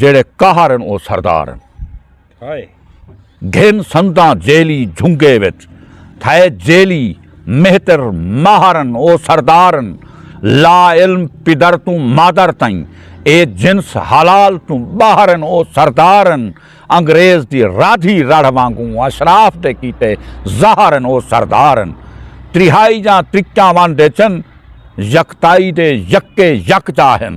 جیڑھے قہر ہن او سردار ہن ہائے گھن سنداں جیلی جھنگے وچ تھئے جیلی مہتر ماہر ہن او سردار ہن لا علم پدر توں مادر تئیں اے جنس حلال توں باہر ہن او سردار ہن انگریز دی رادھی رڑھ وانگوں اشراف دے کیتے زہر ہن او سردار ہن تریہائی جاں تریکیاں ون ڈیچن یکتائی دے یکے یکجا ہن۔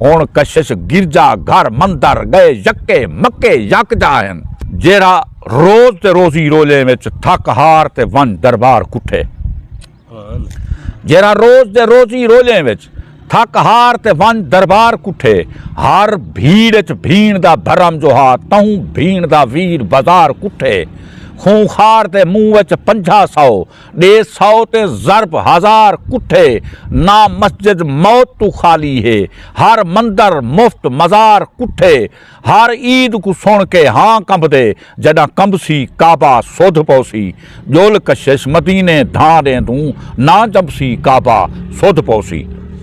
ہݨ کشش گرجا گھر مندر ڳئے یکے مکے یکجا ہن۔ جیرھا روز تے روزی روزیں وچ تھک ہار تے ونڄ دربار کٹھے۔ جیرھا روز تے روزی روزیں وچ تھک ہار تے ونڄ دربار کٹھے۔ ہر بھیڑ وچ بھیݨ دا بھرم جو ہا تہوں بھیݨ دا ویر بازار کٹھے۔ خوں خار دے منہ وچ پنجھا سو۔ ݙے سو تے ضرب ہزار کٹھے نہ مسجد موت توں خالی ہے ہر مندر مفت مزار کٹھے ہر عید کوں سݨ کے ہاں کمبدے جݙاں کمبسی کعبہ سودھ پوسی ڄول کشش مدینے دھاں ݙیں توں نہ جمبسی کعبہ سودھ پوسی۔